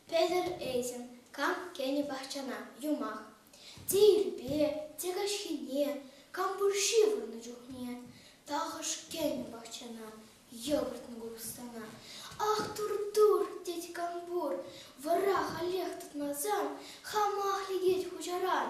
Петӗр этем кам кӗнӗ пахчана юмах. Те ирпе, те каҫхине, кам пур ҫывӑрнӑ чухне, тахӑш кӗнӗ пахчана йӑкӑртнӑ купӑстана. Ах, тур-тур, тет кам пур, вӑра халех тытмасан, хамах лекет хуҫаран.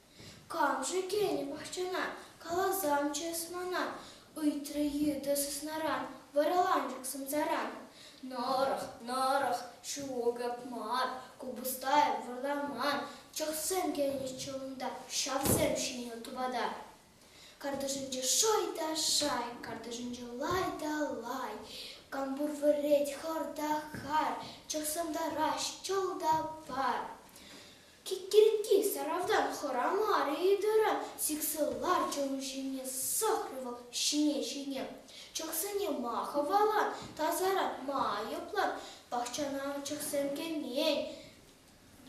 Кам-ши кӗнӗ пахчана? каласан чыс мана, ыйтрӗ йытӑ сыснаран, вараланчӑк сӑмсаран. Нӑрӑх, нӑрӑх, ҫукӑп мар, купӑстай вӑрламан, чӑхсем кӗнӗччӗ унта, ҫавсем ҫинӗ тупата. Картишӗнче шӑй та шай, картишӗнче лай та лай, кампур вӗрет хӑр та хар, чӑхсӑм тараҫ чӑл та пар. Киккиркки сӑрата хӑрамар-и тӑрӑ, сиксе лар чӑну ҫине сӑхрӗ вӑл ҫине-ҫине. Чӑхсене ма хӑвалан, тасаран ма айӑплан, пахчана чӑхсем кӗмен,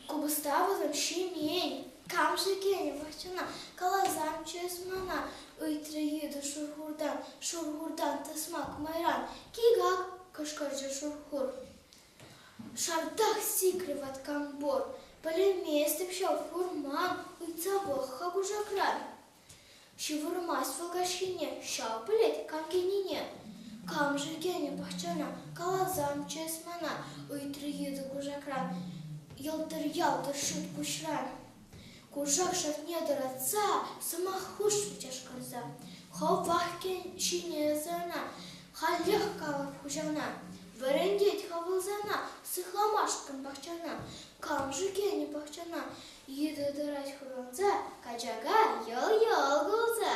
купӑста вӑтам ҫимен. Кам-ши кӗнӗ пахчана, каласан чыс мана, ыйтрӗ йытӑ шурхуртан, шурхуртан тӑсмак майран. Кик-ак! кӑшкӑрчӗ шурхур. Шантах сикрӗ ваткам пор. Пӗлейместӗп ҫав хурма, ыйтса пӑх-ха кушакран. Ҫывӑрмасть вӑл каҫхине, ҫав пӗлет кам килнине. Камшӑн кӗнӗ пахчана, каласамччӗ эс мана, ыйтрӗ йытӑ кушакран. Йӑлтӑр-ялтӑр шут куҫран. Кушак шатне тӑратса сӑмах хушрӗ чашкӑрса. Хӑв Вахтин ҫине ӑсана, халех калав хуҫана. Вӗрентет хӑвӑлсана сыхламашкӑн пахчана. Кам-ши кӗнӗ пахчана? Йытӑ тӑрать хурӑнса, качака йӑл-йӑл кулса.